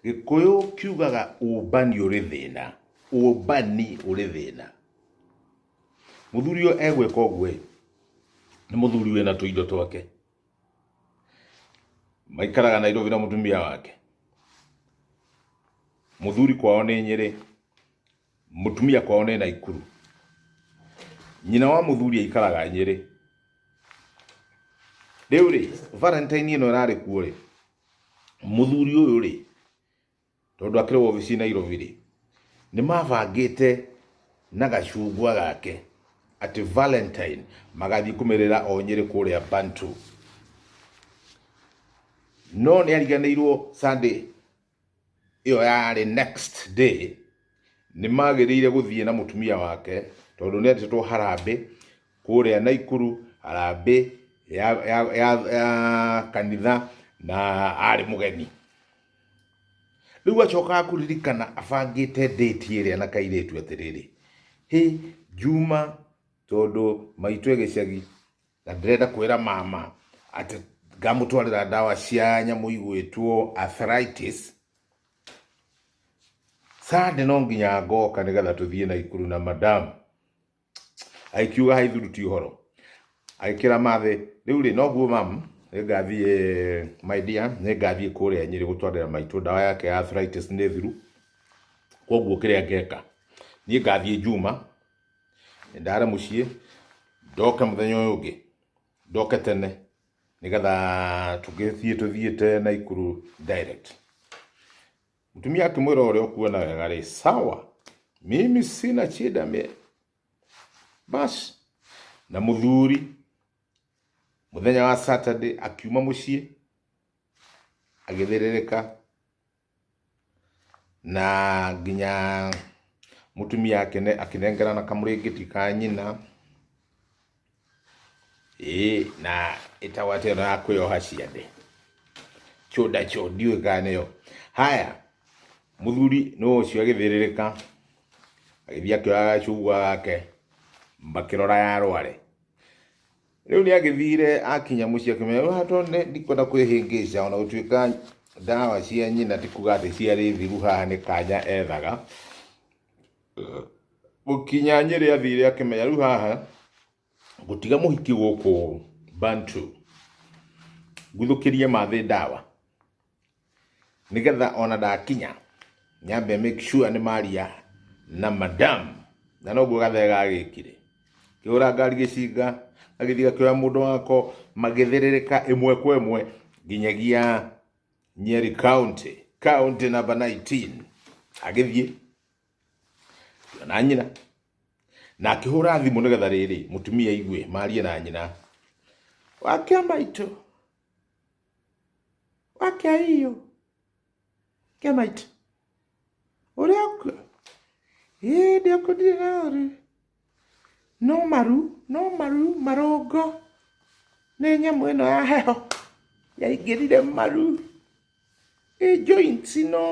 gĩkũyũ kiugaga ũmbani ũrĩ thĩna ũmbani ũrĩ thĩna mũthuri ũyũ egwĩka ũguo nĩ mũthuri wĩna tũindo twake maikaraga nairobi na mũtumia wake mũthuri kwao nĩ nyĩrĩ Mũtumia kwao nĩ Naikuru. Nyina wa mũthuri aikaraga Nyĩrĩ. Rĩu rĩ, Valentine ĩno ĩrarĩ kuo rĩ, mũthuri ũyũ rĩ, tondũ akĩrĩ wobici Nairobi rĩ, nĩ mabangĩte na gacungwa gake atĩ Valentine magathiĩ kũmerera o Nyĩrĩ kũrĩa Bantu. No nĩ ariganĩirwo Sunday ĩyo yarĩ next day nĩ magĩrĩire gũthiĩ na mũtumia wake tondũ nĩ andĩtwo harambĩ kũrĩa Naikuru harambĩ ya, ya, ya, ya kanitha na arĩ mũgeni rĩu acokaga kũririkana abangĩte date ĩrĩa na kairĩtu atĩrĩrĩ hĩ njuma tondũ maitũ e gĩcagi na ndĩrenda kwĩra mama atĩ ngamũtwarĩra ndawa cia nyamũ igwĩtwo arthritis sande no nginya ngoka nĩgetha tũthiĩ na ikuru na madam aikiuga haithuruti ũhoro agĩkĩra mathĩ rĩu rĩ noguo mam nĩngathiĩ my dear nĩngathiĩ kũrĩa nyĩrĩ gũtwarĩra maitũ ndawa yake ya arthritis nĩ thiru koguo kĩrĩa ngeka niĩ ngathiĩ njuma ndare mũciĩ ndoke mũthenya ũyũ ũngĩ ndoke tene nĩgetha tũgĩthiĩ tũthiĩte Naikuru direct. Mũtumia akĩmwĩra ũrĩa ũkuona wega rĩ, sawa mimi sina shida me basi. Na mũthuri mũthenya wa Saturday akiuma mũciĩ agĩthĩrĩrĩka na nginya mũtumia akĩne- akĩnengerana kamũrĩngĩti ka nyina, ĩĩ na ĩtagwo atĩ ĩno ya kwĩyoha ciande, kĩũnda kĩu ndiũĩ kana nĩyo. Haya, mũthuri nĩ ũcio agĩthĩrĩrĩka, agĩthiĩ akĩoya gacungwa gake, makĩrora yarware. Rĩu nĩ agĩthire akinya mũciĩ akĩmenya "Rĩu haha tondũ nĩ- ndikwenda kwĩhĩngĩca ona gũtuĩka ndawa cia nyina ti kuga atĩ ciarĩ thiru haha nĩ kanya ethaga gũkinya nyĩrĩ athire akĩmenya rĩu haha gũtiga mũhiki gũkũ bantu nguthũkĩrie mathĩ ndawa nĩgetha ona ndakinya nyambe make sure nĩ maria na madam na noguo gathe gagĩkire kĩhũra ngari gĩcinga gagĩthiĩ gakĩoya mũndũ wako magĩthĩrĩrĩka ĩmwe kwa ĩmwe nginyagia nyeri county county number 19 agĩthiĩ na nyina na akĩhũra thimũ nĩgetha rĩrĩ mũtumia aigue marie na nyina wakĩa maitũ wake hiyo kemaiti uri aku hĩndĩ akũndire na ũrĩ no maru no maru marũngo nĩ nyamũ ĩno ya heho yaingĩrire maru ĩ joints no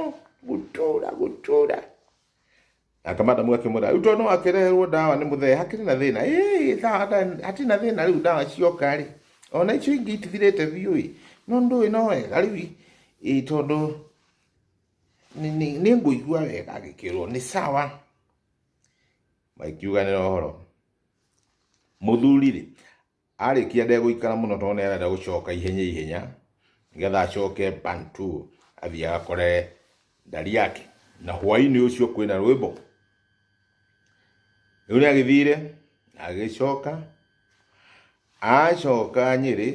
gũtũra gũtũra Nake madamu akĩmwĩra rĩu tondũ akĩreherwo ndawa nĩ mũthee hakĩrĩ na thĩna ĩĩ tha- tha- hatirĩ na thĩna rĩu ndawa cioka rĩ ona icio ingĩ itithirĩte biũ ĩ no ndũĩ no wega rĩu i- ĩ tondũ nĩ- nĩ nĩ ngũigua wega agĩkĩrwo nĩ sawa makiuganĩra ũhoro mũthuri rĩ Arĩkia ndegũikara mũno tondũ nĩ arenda gũcoka ihenya ihenya nĩgetha acoke Bantu athiĩ agakore ndari yake. Na hwaĩ-inĩ ũcio kwĩna rwĩmbo. Rĩu nĩ agĩthire agĩcoka, acoka Nyĩrĩ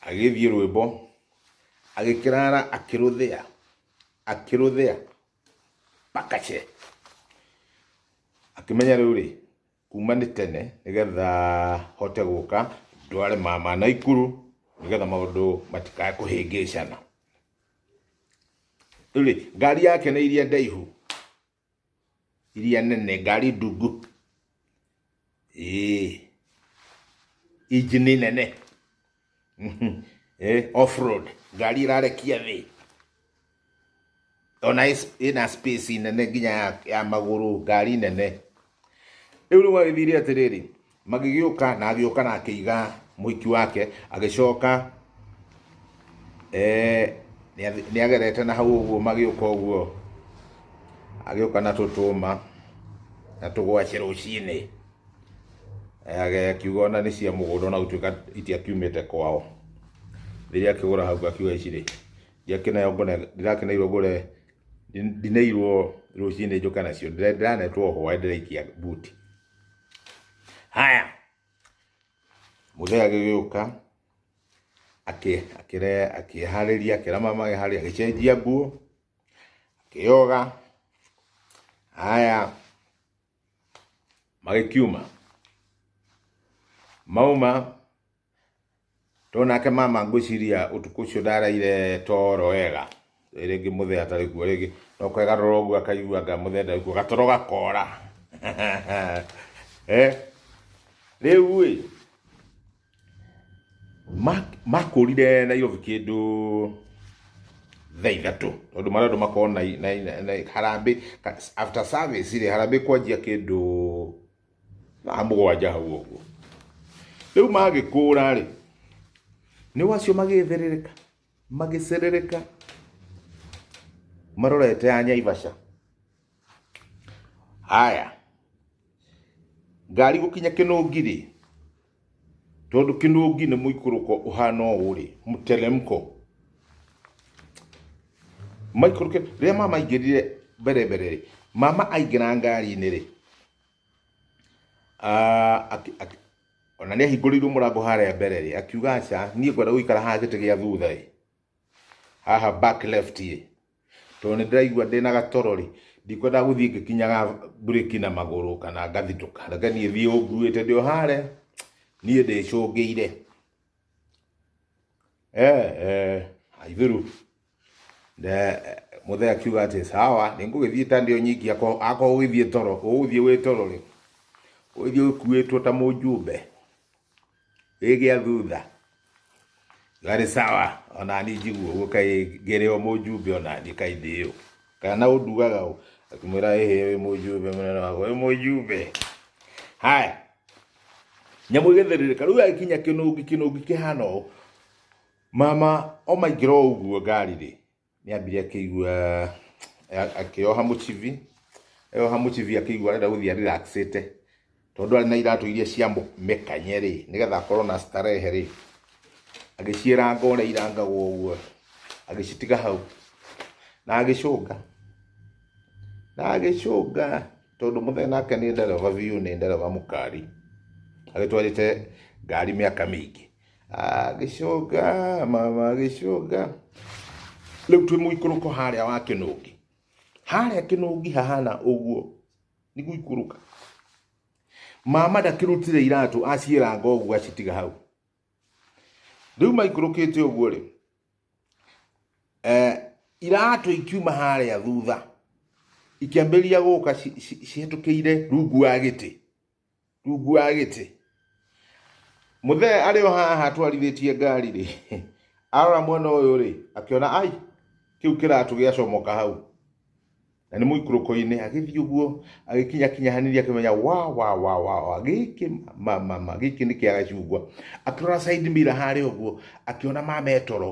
agĩthiĩ rwĩmbo agĩkĩrara akĩrũthĩa akĩrũthĩa pakache. Akĩmenya rĩu rĩ kuma nĩ tene nĩgetha hote gũka ndware mama na ikuru nĩgetha maũndũ matikae kũhĩngĩcana rĩ ngari yake nĩ iria ndaihu iria nene ngari ndungu ĩĩ injini nene eh, off road ngari irarekia thi ona ina space nene nginya ya, ya maguru ngari nene riu riu agithire atiriri magigiuka na agiuka na akiiga muiki wake agicoka eh ni agerete na hau uguo magiuka uguo agiuka na tutuma na tugwace rucini agaya kiuga ona nĩ cia mũgũnda ona gũtuĩka itiakiumĩte kwao rĩrĩa akĩgũra hau akiuga ici rĩ ndiakĩneo ngone ndirakineirwo ngore ndineirwo rũcinĩ njũke nacio ndĩra- ndiranetwo hwaĩ ndĩraikia buti haya mũthee agĩgĩũka akĩ- akĩre- akĩharĩria akĩra mama agĩharĩria agĩcenjia nguo akĩyoga haya magĩkiuma mauma tondũ nake mama ngwĩciria ũtukũ ũcio ndaraire toro wega rĩngĩ mũthee atarĩ kuo rĩngĩ no kwegarũra ũguo akaigua anga mũthee ndarĩ kuo gatoro gakora eh rĩu ĩ Ma- makũrire nairobi kĩndũ thaa ithatũ tondũ marĩa andũ makorwo na, na, na, na harambĩ ka- after service rĩ harambĩ kwanjia kĩndũ thaa mũgwanja hau ũguo rĩu magĩkũra rĩ nĩ wacio magĩtherereka magĩcerereka marorete ya nyaibaca haya ngari gũkinya kĩnũngi rĩ Tondũ kĩnũngi nĩ mũikũrũko ũhana ũũ-rĩ, mteremko. Maikũrũke, rĩrĩa mama aingĩrire mbere mbere-rĩ, mama aingĩra ngari-inĩ-rĩ, ah, aki- aki- ona nĩ ahingũrĩirwo mũrango harĩa mbere-rĩ, akiuga aca, niĩ ngwenda gũikara haha gĩtĩ gĩa thutha-ĩ, haha back left-ĩ. tondũ nĩ ndĩraigua ndĩna gatoro rĩ ndikwenda gũthiĩ ngĩkinyaga mburĩki na magũrũ kana ngathitũka reke niĩ thiĩ ũnguĩte ndĩ o harĩa niĩ ndĩcũngĩire eh, eh, aithuru Nde- mũthee akiuga atĩ sawa nĩ ngũgĩthiĩ ta ndĩ o nyiki akorwo akorwo ũgĩthiĩ toro ũgũthiĩ wĩ toro rĩ ũgĩthiĩ ũkuĩtwo ta mũjumbe Ĩgĩa thutha. Garĩ sawa, ona ni njiguo ũguo kai ngĩrĩ o mũjumbe ona ni kai ndĩyo. Kana ũndugaga ũ? Akĩmwĩra ĩhĩ wĩ mũjumbe mũnene wakwa, wĩ mũjumbe. Haya. Nyamũ ĩgĩthirirĩka. Rĩu agĩkinya kĩnũngi, kĩnũngi kĩhana ũũ. Mama omaingĩra o ũguo ngari-rĩ, nĩ ambire akĩigua akĩoha mũcibi eyoha mũcibi akĩigua arenda gũthiĩ ariraxĩte tondũ arĩ na iratũ iria cia mĩkanye rĩ nĩgetha akorwo na starehe rĩ agĩciĩranga ũrĩa irangagwo ũguo agĩcitiga hau na agĩcũnga na agĩcũnga tondũ mũthee nake nĩ ndereba biũ nĩ ndereba mũkari agĩtwarĩte ngari mĩaka mĩingĩ agĩcũnga mama agĩcũnga rĩu twĩ mũikũrũko harĩa wa kĩnũngi harĩa kĩnũngi hahana ũguo nĩ gũikũrũka mama ndakĩrutire iratũ aciĩranga ũguo acitiga hau rĩu maikũrũkĩte ũguo rĩ eh, iratũ ikiuma harĩa thutha ikĩambĩrĩria gũka cihĩtũkĩire rungu wa gĩtĩ rungu wa gĩtĩ mũthee arĩ o haha atwarithĩtie ngari rĩ arora mwena ũyũ rĩ akĩona ai kĩu kĩratũ gĩacomoka hau na nĩ mũikũrũko-inĩ agĩthiĩ ũguo agĩkinya kinya hanini akĩmenya wa wa wa wa wa gĩkĩ ma ma ma gĩkĩ nĩ kĩa gacungwa akĩrora side mirror harĩa ũguo akĩona mame toro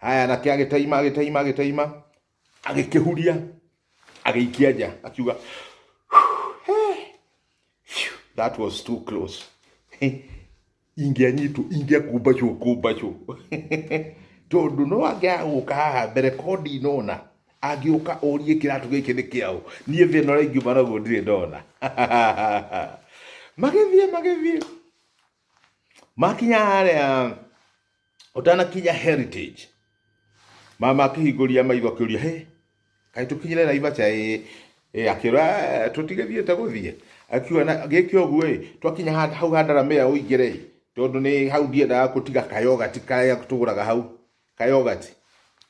haya nake agĩtaima agĩtaima agĩtaima agĩkĩhuria agĩikia nja akiuga Phew, that was too close ingĩanyitwo ingĩakumbacwo kumbacwo tondũ no angĩaga gũka haha mbere ko ndinona angĩũka ũrie kĩratũ gĩkĩ nĩ kĩaũ niĩ thĩna ũrĩa ingiuma naguo ndirĩ ndona magĩthiĩ magĩthiĩ makinya harĩa ũtanakinya heritage mama akĩhingũria maitho akĩũria he kaĩ tũkinyire naivaca ĩ ĩ akĩra tũtigĩthiĩte gũthiĩ akiuga na gĩkĩ ũguo ĩ twakinya ha- hau handara mĩa ũingĩre ĩ tondũ nĩ hau ndiendaga gũtiga kayogati karĩa tũgũraga hau kayogati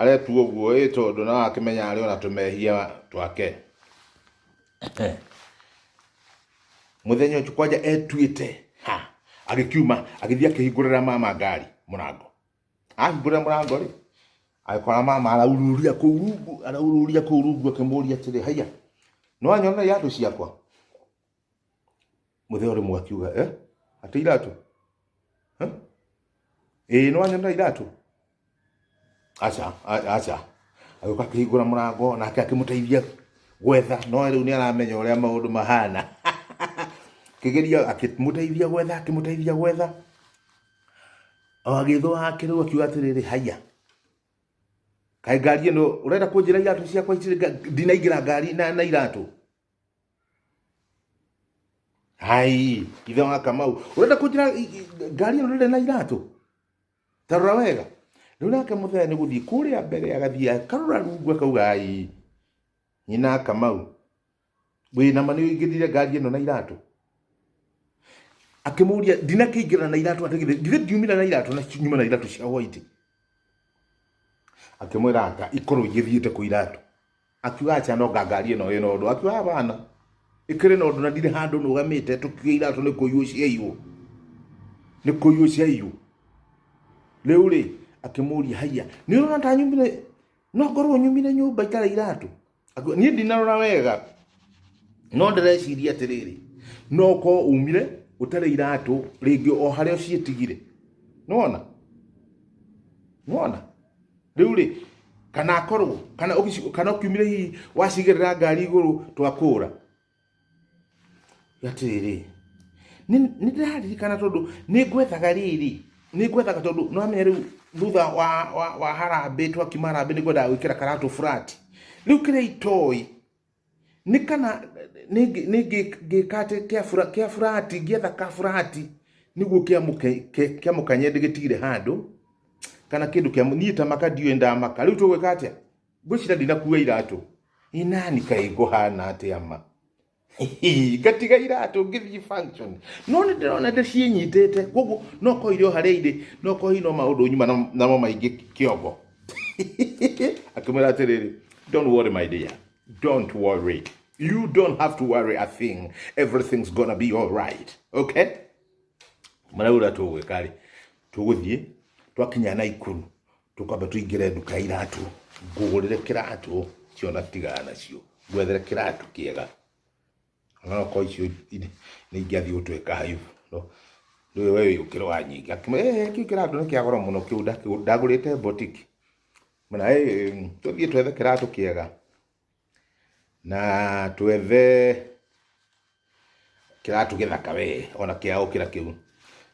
aretua ũguo ĩ tondũ no akĩmenya arĩ ona tũmehia twake muthenya ũcio kwanja etuĩte ha agĩkiuma agĩthiĩ akĩhingũrĩra mama ngari mũrango ahingũrĩra mũrango rĩ agĩkora mama araururia kũu rungu araururia kũu rungu akĩmũria atĩrĩ haiya nĩwanyonera iratũ ciakwa mũthee ũrĩ mwakiuga eh? atĩ iratũ Eh? ĩĩ nĩ wanyonera iratũ aca a- aca agĩũka akĩhingũra mũrango nake akĩmũteithia gwetha no rĩu nĩ aramenya ũrĩa maũndũ mahana kĩgeria akĩmũteithia gwetha akĩmũteithia gwetha o agĩthwo hake rĩu akiuga atĩrĩrĩ haiya kaĩ ngari ĩno ũrenda kũnjĩra iratũ ciakwa itirĩ nga- ndinaingĩra ngari na, na iratũ Hai, ithe wa Kamau. Urenda kunjira i- i- ngari ĩno ndĩrĩ na iratũ? Ta rora wega. Rĩu nake mũthee nĩ gũthiĩ kũrĩa mbere agathiĩ akarora rungu akauga ai. Nyina Kamau. Wĩna ma nĩũingĩrire ngari ĩno na iratũ? Akĩmũria ndinakĩingĩra na iratũ atĩ githĩ githĩ ndiumire na iratũ na nyuma na iratũ cia white. Akĩmwĩra anga ikorwo igĩthiĩte kũ iratũ. akiuga acha no ngangari ĩno ĩna ũndũ akiuga hapana ĩkĩrĩ na ũndũ na ndirĩ handũ nũgamĩte tũkiuga iratũ nĩ kũiywo ciaiywo nĩ kũiywo ciaiywo rĩu rĩ akĩmũria haiya nĩ ũrona ta nyumire no ngorwo nyumire nyũmba itarĩ iratũ Akiuga, niĩ ndinarora wega no ndĩreciria atĩrĩrĩ no ũkorwo umire ũtarĩ iratũ rĩngĩ o harĩa ũciĩtigire nĩwona nĩwona rĩu rĩ kana akorwo kana ũgĩci- kana ũkiumire hihi wacigĩrĩra ngari igũrũ twakũra atĩrĩ nĩ nĩ ndĩraririkana tondũ nĩ ngwethaga rĩrĩ nĩ ngwethaga tondũ nĩ wamenya rĩu thutha wa wa wa harambĩ twakiuma harambĩ nĩ ngwendaga gwĩkĩra karatũ burati rĩu kĩrĩa itoĩ nĩ kana nĩngĩka atĩ kĩa burati ngĩetha ka burati nĩguo kĩamũkanye ndĩgĩtigire handũ kana kĩndũ kĩa niĩ ta maka ndiũĩ ndamaka rĩu tũgwĩka atĩa ngwĩcira ndinakua iratũ inani kaĩ ngũhana atĩa ma ngatiga iratũ ngĩthiĩ function no nĩ ndĩrona ndĩciĩnyitĩte koguo no korwo irĩ o harĩa irĩ no korwo hihi no maũndũ nyuma namo maingĩ kĩongo akĩmwĩra atĩrĩrĩ don't worry my dear don't worry you don't have to worry a thing everything's gonna be all right okay marĩa ũrĩa tũgwĩka rĩ tũgũthiĩ twakinya na ikuru tũkwamba tũingĩre nduka ya iratũ ngũgũrĩre kĩratũ ciona tigana nacio ngwethere kĩratũ kĩega no ko icio nĩ ingĩathiĩ gũtweka haibu no rĩu wewe ũkĩrwo wanyinga eh kĩu kĩratũ nĩ kĩa goro mũno kĩu ndakĩgũ- ndagũrĩte botiki mena eh tũthiĩ twethe kĩratũ kĩega na twethe kĩratũ gĩthaka we ona kĩa ũkĩra kĩu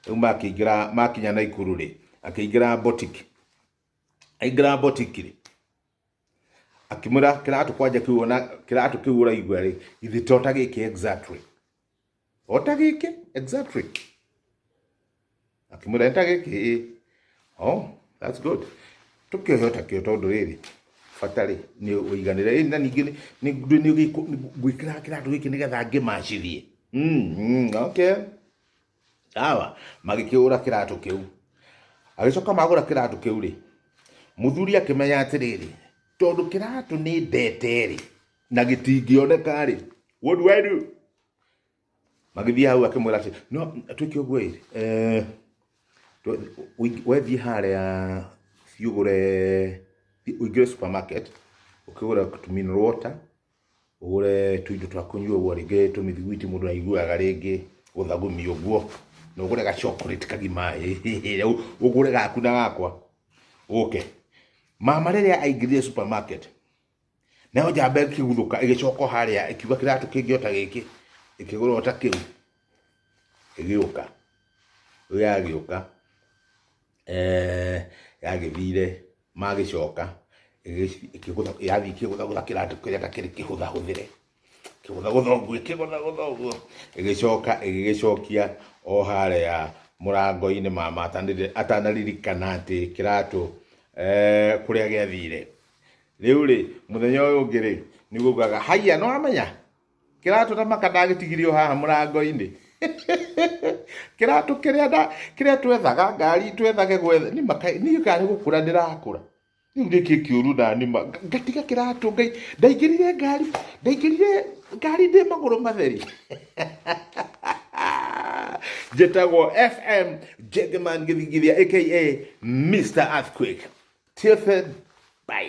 rĩu makĩingĩra makinya Naikuru rĩ akĩingĩra botiki aingĩra botiki rĩ akimwira kiratu kwanja kiu ona kiratu kiu uraigua ri ithi to ta giki exactly ota giki exactly akimwira enta giki ĩ oh that's good tukiohe ota kio tondu riri bata rĩ nĩ ũiganĩre ĩ na ningĩ nĩ ngwĩkĩra kĩratũ gĩkĩ nĩgetha ngĩmacirie Mm, mm, okay sawa magĩkĩgũra kĩratũ kĩu agĩcoka magũra kĩratũ kĩu rĩ mũthuri akĩmenya atĩrĩrĩ tondũ kĩratũ nĩ ndete rĩ na gĩtingĩoneka rĩ what do I do magĩthiĩ hau akĩmwĩra atĩ no twĩke ũguo ĩ eh, twe- ũing- wethiĩ harĩa thiĩ ũgũre thiĩ ũingĩre supermarket ũkĩgũra tuminal water ũgũre tũindo twa kũnyua ũguo rĩngĩ tũmĩthiguiti mũndũ aiguaga rĩngĩ gũthagumia ũguo, na ũgũre ga chocolate kagima ĩ, ũgũre gaku na gakwa ũke. Mama rĩrĩa aingĩrire supermarket, nayo njamba ĩkĩguthũka ĩgĩcoka o harĩa ĩkiuga kĩratũ kĩngĩ o ta gĩkĩ, ĩkĩgũra o ta kĩu, ĩgĩũka. Rĩu yagĩũka yagĩthire... magĩcoka yathiĩ kĩgũthagũtha kĩratũ kĩrĩa ta kĩrĩ kĩhũthahũthĩre kĩgũthagũtha ũguo ĩkĩgũthagũtha ũguo ĩgĩcoka ĩgĩgĩcokia o harĩa mũrango-inĩ mama atanĩrĩ- atanaririkana atĩ kĩratũ eh, kũrĩa gĩathire rĩu rĩ mũthenya ũyũ ũngĩ rĩ nĩgugaga haiya nĩwamenya kĩratũ na maka ndagĩtigire o haha mũrango-inĩ kĩratũ kĩrĩa nda- kĩrĩa twethaga ngari twethage gwetha nĩ maka niĩ ngarĩ gũkũra ndĩrakũra rĩu nĩkĩ kĩũru na nima ngatiga kĩratũ ngai ndaingĩrire ngari ndaingĩrire ngari ndĩ magũrũ matheri njĩtagwo fm jagaman gĩthingithia aka mr earthquake till then bye